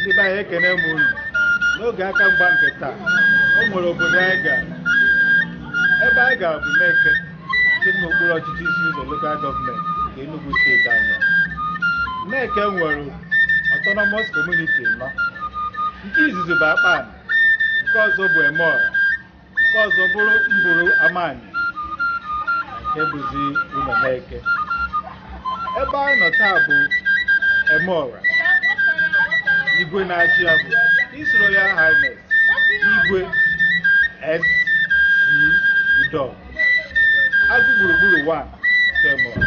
ndị be anyị ekene m unu n'oge aka mgba nke taa o nwere obodo anyị gara ebe anyị gara bụ Neke dị n'okpuru ọchịchị Isi Ụzọ lokal gọọmenti nke Enugu steeti anyị Neke nwere autonomous community anọ nke izizi bụ Akpani nke ọzọ bụ Emeọra nke ọzọ bụrụ Mburu Amani nke bụzi Ụlọ Neke Ebe anyị nọ taa bụ Emeọra. Igwe na-achị ya bụ His Royal Highness Igwe SC Odo Agụ gburugburu 1 nke Emeọra.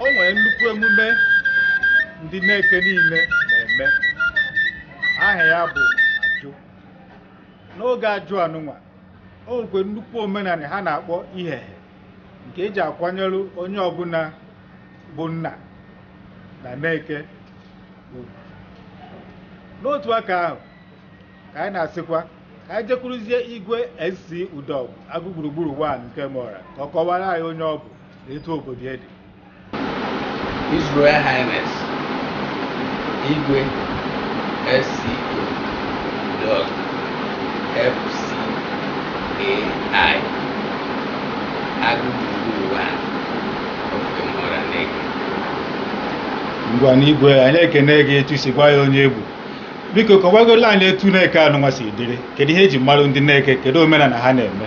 o nwere nnukwu emume ndị Neke niile na-eme aha ya bụ ajụ n'oge ajụ anụnwa o nwekwe nnukwu omenala ha na-akpọ ihehe nke e ji akwanyere onye ọbụla bụ nna na Neke ugwu n'otu aka ahụ ka anyị na-asịkwa ka anyị jekwuruzie igwe SC Odo Agụ gburugburu 1 nke Emeọra ka ọ kọwara anyị onye ọ bụ na etu obodo ya dị His Royal Highness Igwe SC Odo FCAI Agụ gburugburu 1 of Emeọra Neke ngwanụ igwe anyị ekene gị etu i si gwa anyị onye ị bụ biko kọwagola anyị etu Neke anụnwa si dịrị kedu ihe e ji malụ ndị Neke kedu omenala ha na-eme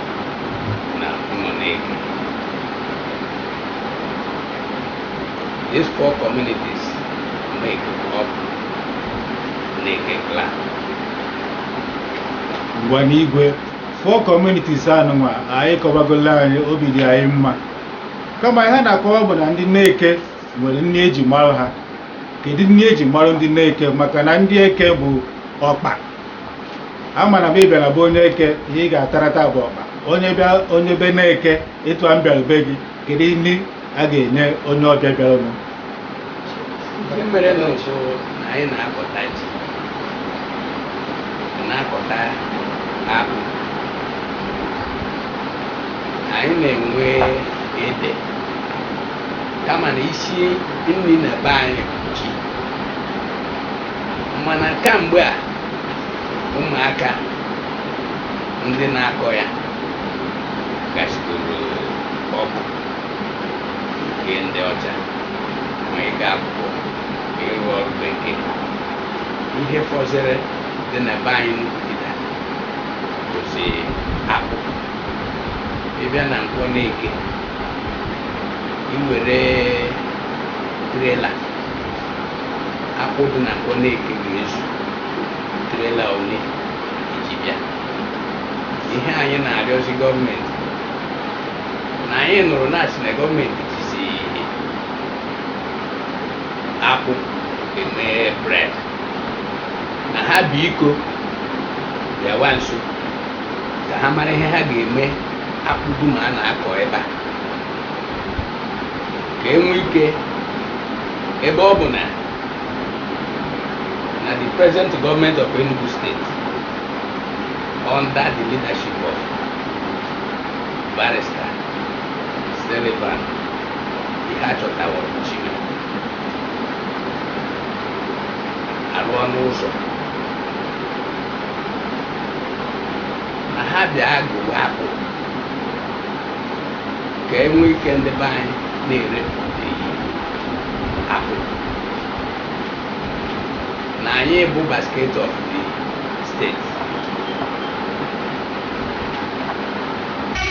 na Ụlọ Neke these four communities make up Neke clan ngwanụ igwe four communities anụnwa ị kọwagola anyị obi dị anyị mma kama ihe a na-akọwa bụ na ndị Neke nwere nni e ji mara ha kedu nni e ji mara ndị Neke maka na ndị Eke bụ ọkpa a mara m ị bịara be onye Eke ihe ị ga-atara taa bụ ọkpa onye bịa onye be Neke etu a m bịara be gị kedu nri a ga-enye onye ọbịa bịara m ihe mere m kwuo na anyị na-akọta ji na-akọta akpụ anyị na-enwe ede kama na isi nri na be anyị bụ ji mana kamgbe a ụmụaka ndị na-akọ ya gachidoro ọkụ nke ndị ọcha ma ịga akwụkwọ ma ịrụ ọrụ bekee ihe fọziri dị na be anyị n'Ukigida bụzi akpụ ị bịa na Nkwọ Neke i were trela akpụ dị na Nkwọ Neke ga-ezu trela ole i ji bịa ihe anyị na-arịọzi gọọmenti na anyị nụrụ na a sị na gọọmenti jizi akpụ eme bred na ha biko bịawa nso ka ha mara ihe ha ga-eme akpụ dum a na-akọ ebe a ka e nwee ike ebe ọ bụ na na the present government of Enugu State under the leadership of barrister Sullivan ihe a chọtaworo Chime arụọna ụzọ na ha bịa gowa akpụ ka e nwee ike ndị be anyị na-ere akpụ na anyị bụ basket of the state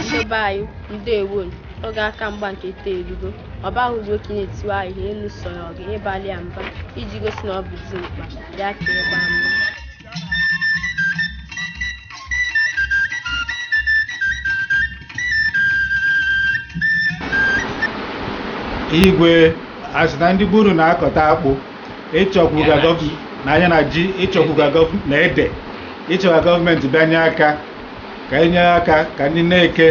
ndị be anyị ndewo oge aka mgba nke ite erugo ọ baghị ugbo ka ị na-etiwe ahịhịa elu sọrọ gị ịgbalị ya mgba iji gosi na ọ bụ dimkpa ya ka ịgba mgba igwe a sị na ndị be unu na-akọta akpụ ị chọkwu ka gọv- na ya na ji ị chọkwu ka gọv- na ede ị chọ ka gọọmenti bịanye aka ka e nye aka ka ndị Neke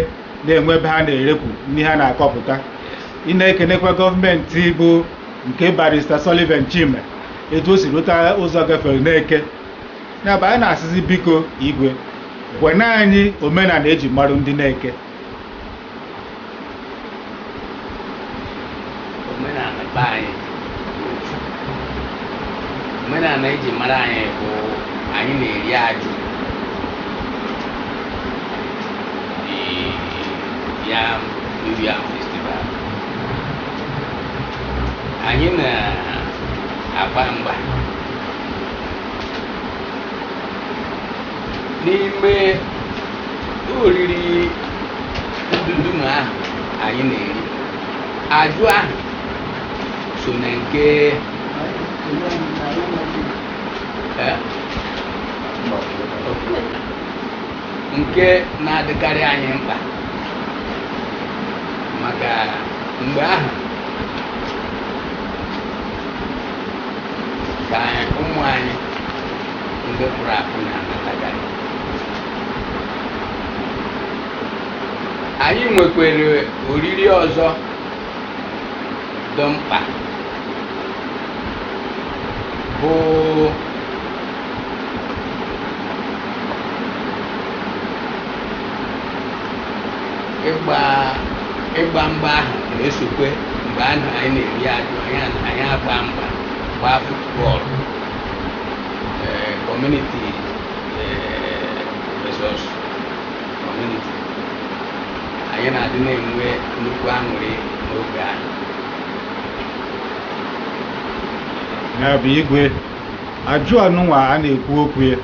na-enwe ebe ha na-erekwu ihe ha na-akọpụta ị na-ekenekwa gọọmenti bụ nke barista Sullivan Chime etu o si rụta ụzọ gafere n'Eke ya bụ anyị na-asịzi biko igwe gwanụ anyị omenala eji marụ ndị n'Eke omenala be anyị omenala eji mara anyị bụ anyị na-eri ajụ the yam new yam festival anyị na-agba mgba n'ime oriri ndudum ahụ anyị na-eri ajụ ahụ so na nke eh, nke na-adịkarị anyị mkpa maka mgbe ahụ ka ụmụ anyị ndị pụrụ apụ na-anatakarị anyị nwekwere oriri ọzọ dị mkpa bụ ịgba ịgba mgba ahụ na-esokwe mgbe ahụ anyị na-eri ajụ anyị a- anyị agba mgba gbaa futbọọlụ ee community ee versus community anyị na-adị na-enwe nnukwu aṅụrị n'oge ahụ ya bụ igwe ajụ anụnwa a na-ekwu okwu ya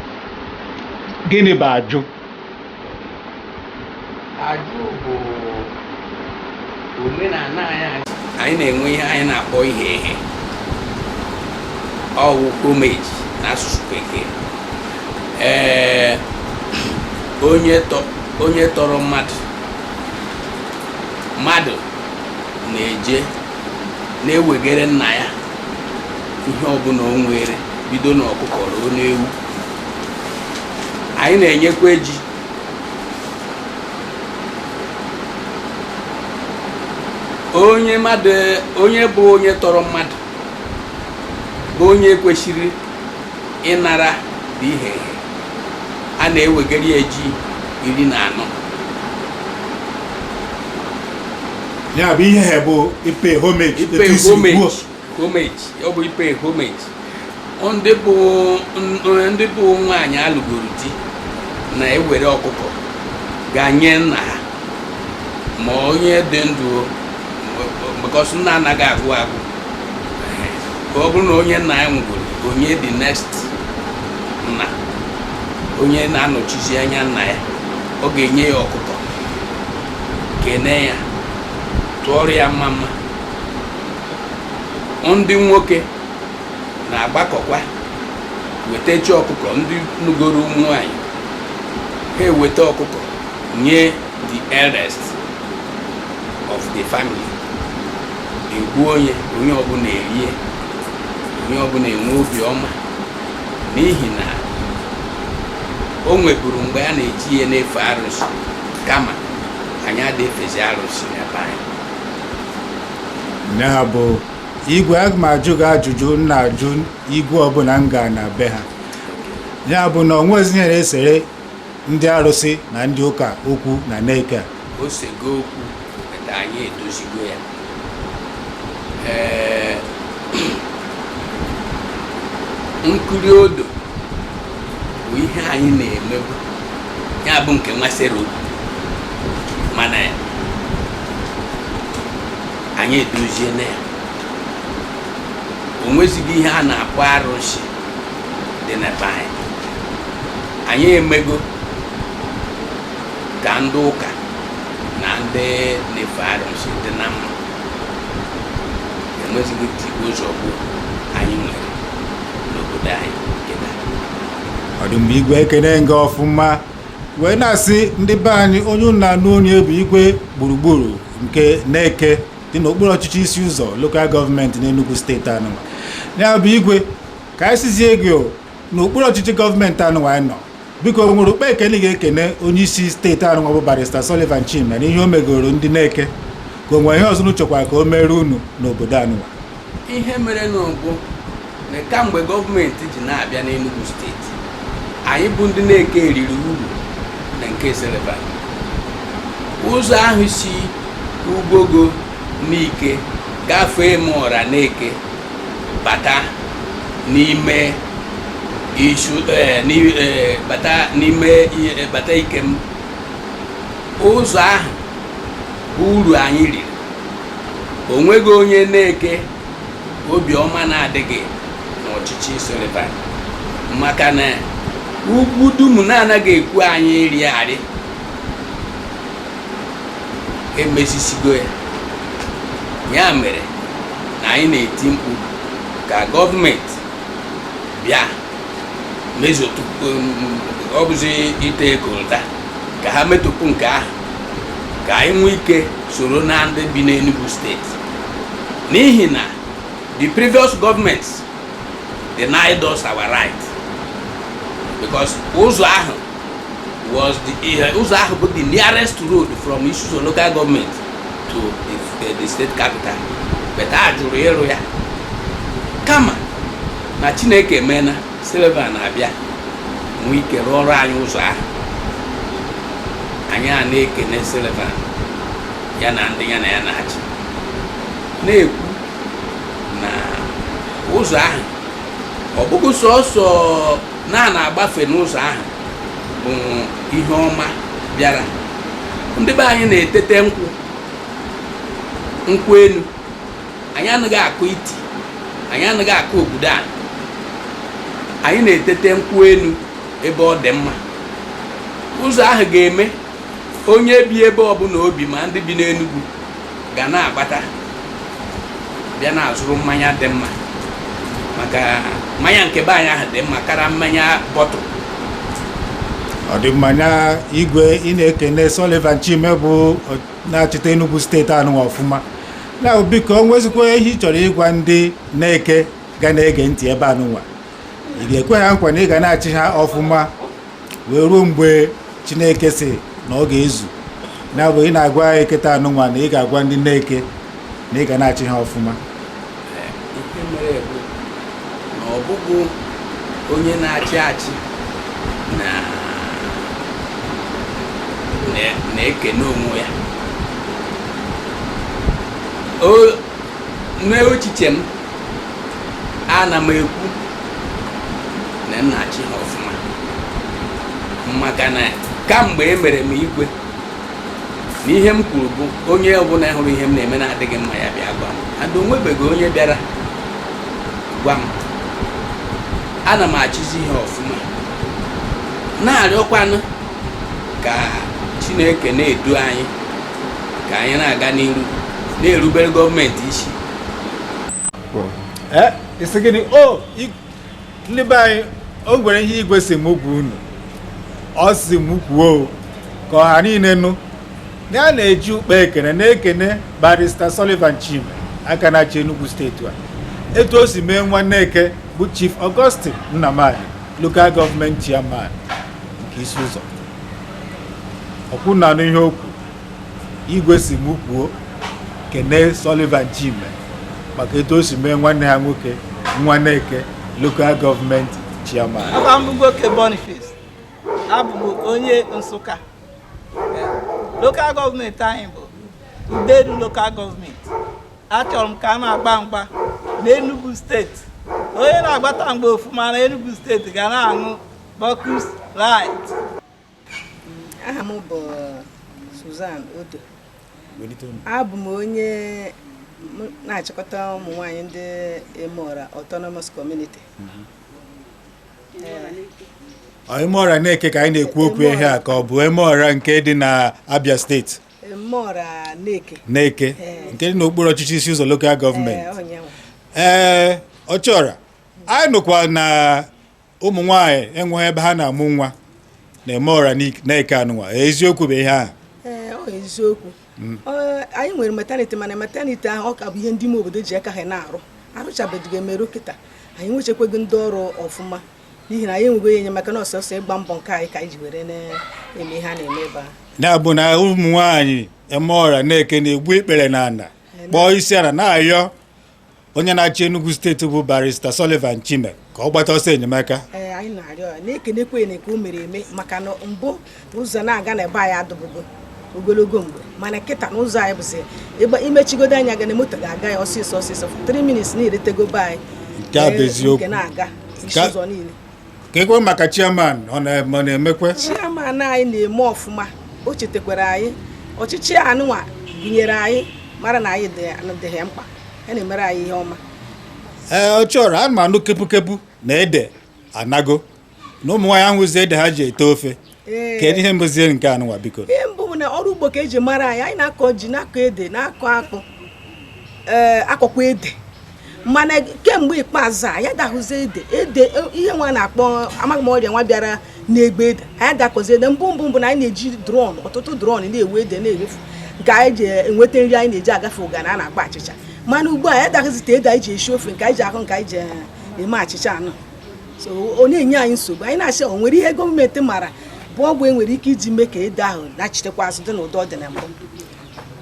gịnị bụ ajụ ajụ bụ omenala anyị anyị na-enwe ihe anyị na-akpọ ihe ehe ọ wụ homage n'asụsụ bekee ee onye tọrọ mmadụ mmadụ na-eje na-ewegere nna ya ihe ọbụla o nwere bido n'ọkụkọ ruo n'ewu anyị na-enyekwa ji onye mmadụ onye bụ onye tọrọ mmadụ bụ onye kwesịrị ịnara bụ ihe a na-ewegara ya ji iri na anọ ya bụ ihe a bụ ịpay homage ịpay etu i si homage. kwuo. homage ọ bụ ị pay homage ndị bụ ndị bụ nwaanyị alụgoro di na-ewere ọkụkọ gaa nye nna ha ma onye dị ndụ because nna anaghị agụ agụ ka ọ bụrụ na onye nna ya nwụgoro onye dị next nna onye na-anọchizi anya nna ya ọ ga-enye ya ọkụkọ kene ya tụọrọ ya mma mma ndị nwoke na-agbakọkwa wetachi ọkụkọ ndị nụgoro ụmụ nwanyị ha eweta ọkụkọ nye the eldest of the family e gbuo nye onye ọbụla erie onye ọbụla enwe obi ọma n'ihi na o nweburu mgbe a na-eji ihe na-efe arụsị kama anyị adị efezi arụsị na be anyị na ya bụ igwe aga m ajụ gị ajụjụ m na-ajụ igwe ọbụla m gara na be ha ya bụ na o nwezi ihe na-esere ndị arụsị na ndị ụka okwu na Neke a o sego okwu ete anyị edozigo ya ee nkiri odo bụ ihe anyị na-emebu ya bụ nke nwasịrị odo mana anyị edoziena ya o nwezighị ihe a na-akpọ arụsị dị na be anyị anyị emego ka ndị ụka na ndị na-efe arụsị dị na mma enwezighị tigbuo zọgbuo anyị nwere n'obodo anyị ọ dị mma igwe ekene m gị ọfụma wee na-asị ndị be anyị onye ụnụ na-anụ onu ya bụ igwe gburugburu nke Neke dị n'okpuru ọchịchị Isi Ụzọ lokal gọọmenti n'Enugu steeti anụwa ya bụ igwe ka anyị sizie gị n'okpuru ọchịchị gọọmenti anụwa anyị nọ biko o nwere ụkpa ekele ị ga-ekene onye isi steeti anụwa bụ barista Sullivan Chime na ihe o megoro ndị Neke ka o nwere ihe ọzọ unu chọkwara ka o meere unu n'obodo anụwa ihe mere nụ bụ na kamgbe gọọmenti ji na-abịa n'Enugu steeti anyị bụ ndị Neke eriri uru na nke Sullivan ụzọ ahụ si Ugwogo Nike gafee m ọra Neke bata n'ime isu eh, eh, bata n'ime eh, bata Ikem ụzọ ahụ bụ uru anyị riri o nweghị onye Neke obiọma na-adịghị n'ọchịchị Sullivan maka na ugwu dum na-anaghị ekwe anyị rịarị emezisigo ya ya mere na anyị na-eti mkpu ka gọọmenti bịa mezotụpụ ọ bụzi ite coal tar ka ha metụpụ nke ahụ ka anyị nwee ike soro na ndị bi n'Enugu steeti n'ihi na the previous governments denied us our right because ụzọ ahụ was the eh, ụzọ ahụ bụ the nearest road from Isi-Uzo local government to the, the, eh, the state capital but a jụrụ ịrụ ya kama na Chineke emena Sullivan na-abịa nwee ike rụọrọ anyị ụzọ ahụ anyị ana-ekene Sullivan ya na ndị ya na ya na-achị na-ekwu na ụzọ ahụ ọ bụghị sọsọ na a na-agbafe n'ụzọ ahụ bụ ihe ọma bịara ndị be anyị na-etete nkwụ nkwụ enu anyị anaghị akụ iti anyị anaghị akụ obodo a anyị na-etete nkwụ enu ebe ọ dị mma ụzọ ahụ ga-eme onye bi ebe ọbụna o bi ma ndị bi n'Enugu ga na-agbata bịa na-azụrụ mmanya dị mma maka mmanya nke be anyị ahụ dị mma kara mmanya bottle ọ dị mma na igwe ị na-ekene Sullivan Chime bụ na-achịta Enugu steeti anụnwa ọfụma na biko o nwezikwa ihe ị chọrọ ịgwa ndị Neke ga na-ege ntị ebe anụnwa ị ga-ekwe ha nkwa na ị ga na-achị ha ọfụma wee ruo mgbe chineke si na ọ ga-ezu na bụ ị na-agwa anyị kịta anụnwa na ị ga-agwa ndị Neke na ị ga na-achị ha ọfụma ihe mere bụ na ọ bụghị onye na-achị achị na na- na-ekene onwe ya O- n'echiche m ana m ekwu na m na-achị ha ọfụma maka na kamgbe e mere m igwe na ihe m kwuru bụ onye ọbụla hụrụ ihe m na-eme na-adịghị mma ya bịa gwa m and o nwebeghị onye bịara gwa m ana m achịzi ihe ọfụma na-arịọkwanụ ka chineke na-edu anyị ka anyị na-aga n'iru na-erubere gọọmenti isi eh, ị sị gịnị o oh, ndị be anyị o nwere ihe igwe si m gwa unu ọ si m kwuo ka ọha niile nụ ya na-eji ụkpa ekene na-ekene barista Sullivan Chime aka na-achị Enugu steeti a etu o si mee nwa Neke bụ Chief Augustine Nnamani local gọọmenti chairman nke Isi-Uzo ọkwụ na n'ihe okwu igwe sị m kwuo kene Sullivan Chime maka etu o si mee nwanne ya nwoke nwa Neke lokal gọọmenti chairman Aha m bụ Ugwoke Boniface abụ m onye Nsụka lokal gọọmenti anyị bụ Udenu lokal gọọmenti achọrọ m ka a na-agba mgba n'Enugu steeti onye na-agbata mgba ọfụma na Enugu steeti ga na-aṅụ Focus light. Aha m bụ Suzan Odo. Abụ m onye na-achịkọta ụmụ nwanyị ndị Emeọra Autonomous Community. Mhm. Emeọra Neke ka anyị na-ekwu okwu ihe a ka ọ bụ Emeọra nke dị na Abia steeti. Emeọra Neke. Neke nke dị n'okpuru ọchịchị Isi-Ụzọ lokal gọọmenti. Ee, Ọchịọra anyị nụkwa na ụmụ nwaanyị enweghị ebe ha na-amụ nwa n'Emeọra Neke anụnwa eziokwu bụ ihe ahụ eziokwu mm. anyị nwere metaniti mana metaniti ahụ ọ ka bụ ihe ndị ime obodo ji aka ha na-arụ arụchabeghị emerụ kịta anyị enwechekwaghị ndị ọrụ ọfụma n'ihi na anyị enweghị onye enyemaka na ọ sọọsọ ịgba mbọ nke anyị ka anyị ji were na-eme ihe a na-eme ebe a ya bụ na ụmụ nwaanyị Emeọra Neke na-egbu ikpere n'ana kpọọ isi ana na-ayọ onye na-achị Enugu steeti bụ barista Sullivan Chime ka ọ gbata ọsọ enyemaka ee anyị na-arịọ ya na-ekenekwa ya nke o mere eme maka na mbụ ụzọ na-aga na be anyị adụbụgo ogologo mgbe mana kịta na ụzọ anyị bụzi ịgba i mechigodo anya gị na moto ga-aga ya ọsịsọ ọsịsọ 3 minutes na e rutego be anyị Nke a bụ Ee, eziokwu. nke na-aga isi Ka- ụzọ niile keekwa maka chairman ọ na-emekwe chairman anyị na-eme ọfụma o chetakwara anyị ọchịchị anụnwa gụnyere anyị mara na anyị dị ha mkpa ha na-emere anyị ihe ọma ee Ọchịọra anụ m anụ kepukepu na ede anago na ụmụ nwaanyị ahụzi ede ha ji ete ofe kedu ihe bụzi nke anụnwa biko ihe mbụ bụ na ọrụ ugbo ka e ji mara anyị anyị na-akọ ji na-akọ ede na-akọ akpụ ee akọkwa ede mana kemgbe ikpeazụ a anyị adahụzi ede ede ihe nwa na-akpọ amaghị m ọrịa nwa bịara na-egbu ede anyị adakọzi ede mbụ mbụ mbụ na anyị na-eji drọm ọtụtụ drọm na-ewu ede na-erefu nke anyị ji enweta nri anyị na-eji agafe ụganị a na-akpọ achịcha mana ugbu a anyị adahụzite ede anyị ji esi ofe nke anyị ji ahụ nke anyị ji eme achịcha anụ so ọ na-enye anyị nsogbu anyị na-asị o nwere ihe gọọmenti mara bụ ọgwụ e nwere ike iji mee ka ede ahụ nachitekwa azụ dị n'ụdị ọ dị na mbụ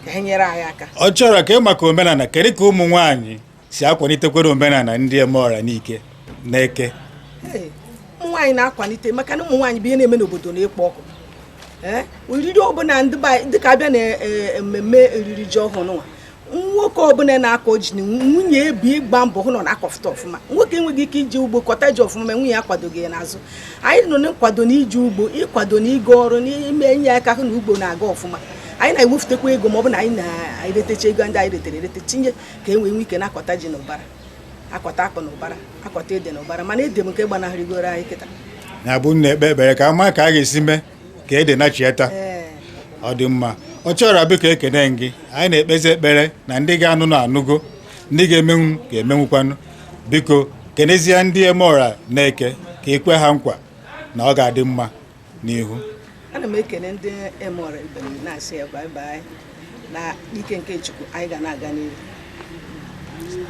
ka ha nyere anyị aka Ọchịọra kee maka omenana kedu ka ụmụ nwaanyị si akwanitekwere omenana ndị Emeọra Nike Neke Ee, ụmụ nwaanyị na-akwanite maka na ụmụ nwaanyị bụ ihe na-eme na obodo na-ekpo ọkụ Ee, oriri ọbụna ndị be anyị- dịka a bịa na e, e, mmemme oriri ji ọhụrụ nwa nwoke ọbụla na-akọ ji na nwunye ebi ịgba mbọ hụ na ọ na-akọfụta ọfụma nwoke enweghị ike iji ugbo kọta ji ọfụma ma nwunye ya kwadoghị ya n'azụ anyị nọ na nkwado na iji ugbo ịkwado na ịga ọrụ na ime enye aka hụ na ugbo na-aga ọfụma anyị na-ewepụtakwa ego ma ọ bụ na anyị na-eretecha ego ndị anyị retere erete tinye ka e nwee nwe ike na-akọta ji na ụbara akọta akpụ na ụbara akọta ede na ụbara mana ede bụ nke gbanahụrịgoro anyị kịta na-abụ na-ekpe ekpere ka a ma ka a ga-esi mee ka ede nachieta ọ dị mma ọ chọrọ biko ekene m gị anyị na-ekpezi ekpere na ndị ga-anụnụ anụgo ndị ga-emenwu ga-emenwukwanụ biko kenezie ndị Emeora Neke ka i kwe ha nkwa na ọ ga-adị mma n'ihu ana m ekene ndị Emeora ibe m na-asị ya bye bye na ike nke Chukwu anyị ga na-aga n'ihu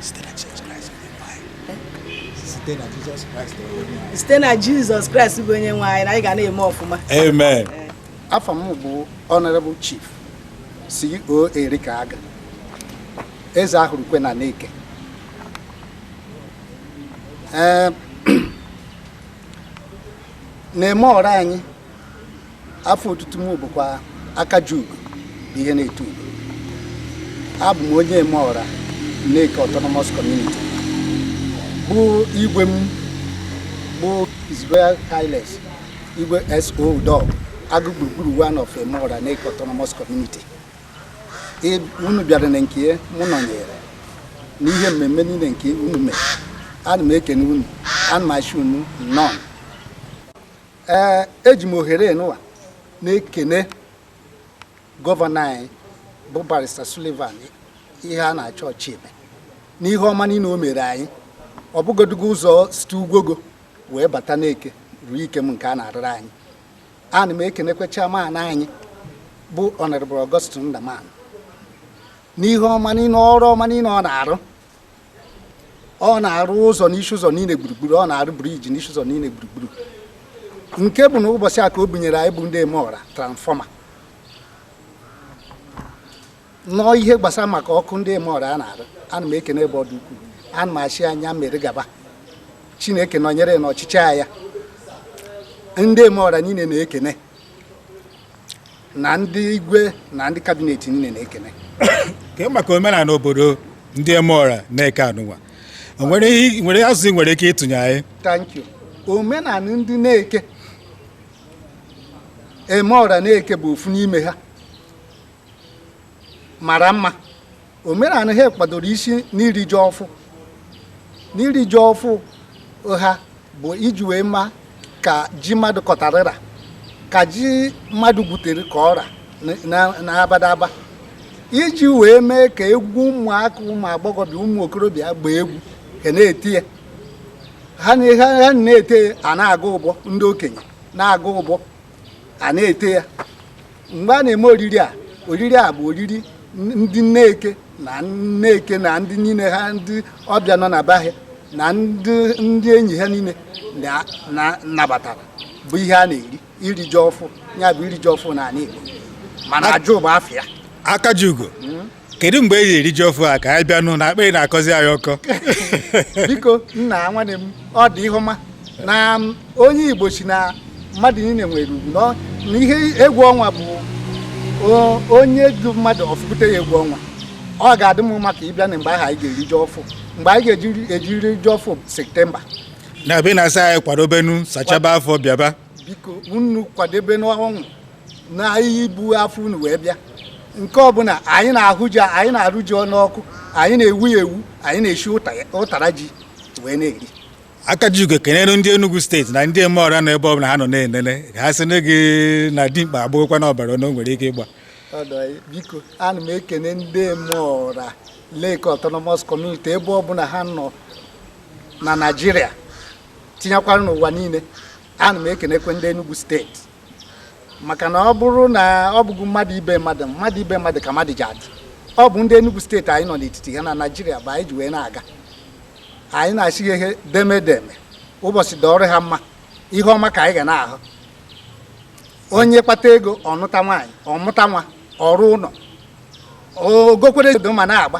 site na Jizọs Kraịst bụ onye nwe anyị na anyị ga na-eme ọfụma amen afa m bụ honorable chief CO erika aga eze ahụrụ kwe na Neke na Emeora anyị afa otutu m bụkwa aka ji ugo bụ ihe na-eto ugo abụ m onye Emeora Neke Autonomous Community bụ igwe m bụ His Royal Highness igwe SO Udo agụ gburugburu one of Emeora Neke Autonomous Community Ị- unu bịara na nke ya, mụ nọnyere n'ihe mmemme niile nke unu mere ana m ekene unu ana m asị unu nnọọ ee eji m ohere nụwa na-ekene gọvanọ anyị bụ barista Sullivan Iheanacho Chime n'ihe ọma niile o mere anyị ọ bụgodugo ụzọ site Ugwogo wee bata Neke ruo Ikem nke a na-arụrụ anyị ana m ekenekwa chairman anyị bụ Honorable Augustine Nnamani n'ihe ọma niile ọrụ ọma niile ọ na-arụ ọ na-arụ ụzọ n'isi ụzọ niile gburugburu ọ na-arụ briji n'isi ụzọ niile gburugburu nke bụ na ụbọchị a ka o bunyere anyị bụ ndị Emeora transfọma nọọ ihe gbasara maka ọkụ ndị Emeora a na-arụ ana m ekene ebe ọ dị ukwuu ana m asị ya nya mere gaba chineke nọnyere n'ọchịchị ya ndị Emeora niile na-ekene na ndị igwe na ndị kabinet niile na-ekene kee maka omenala obodo ndị Emeora Neke anụnwa nwere azụ i nwere ike ịtụnye anyị thank you omenala ndị Neke Emeora Neke bụ ofu n'ime ha mara mma omenala ha kwadoro isi n'iri ji ọfụ n'iri ji ọfụ ha bụ iji wee ma ka ji mmadụ kọtarị ra ka ji mmadụ gwutere ka ọ ra n'abadaba iji wee mee ka egwu ụmụaka ụmụ agbọghọbịa ụmụ okorobịa gbaa egwu ka a na-eti ya ha na-ete a na-agụ ụbọ ndị okenye na-agụ ụbọ a na-ete ya mgbe a na-eme oriri a oriri a bụ oriri ndị Neke na Neke na ndị niile ha ndị ọbịa nọ na be ha na ndị ndị enyi ha niile na- na- nabatara bụ ihe a na-eri iri ji ọfụ ya bụ iri ji ọfụ na ala Igbo mana ajụ bụ afịa Akajiugo kedu mgbe e ji eri ji ọfụ a ka anyị bịanụ na akpịrị na-akọzi anyị ọkọ biko nna nwanne m ọ dị ihe ọma na onye Igbo sị na mmadụ niile nwere ugwu na ihe egwu ọnwa bụ onye du mmadụ ọ fụpụta ya egwu ọnwa ọ ga-adị mma ka ị bịa na mgbe ahụ anyị ga-eri ji ọfụ mgbe anyị ga-eji eri ji ọfụ septemba na-abịa na-asa anyị kwadobenu sachaba afọ bịaba biko unu kwadobenụ onwe na ihe ibu afọ unu wee bịa nke ọbụla anyị na-ahụ ji anyị na-arụ ji ọnụ ọkụ anyị na-ewu ya ewu anyị na-eshi ụtara ji wee na-eri Akajiugo kenere ndị Enugu steeti na ndị Emeora nọ ebe ọbụla ha nọ na-enene ha sị na gị na dimkpa agbụghịkwa n'ọbara na o nwere ike ịgba biko ana m ekene ndị Emeora Neke Autonomous Community ebe ọbụla ha nọ na Naịjirịa tinyekwara n'ụwa niile ana m ekenekwe ndị Enugu steeti maka na ọ bụrụ na ọ bụghị mmadụ ibe mmadụ mmadụ ibe mmadụ ka mmadụ ji adị ọ bụ ndị Enugu steeti anyị nọ n'etiti ha na Naịjirịa bụ anyị ji wee na-aga anyị na-asị ha deme deme ụbọchị dịrị ha mma ihe ọma ka anyị ga na-ahụ onye kpata ego ọ nụta nwaanyị ọ mụta nwa ọ rụ ụlọ o gokwere ma na-agba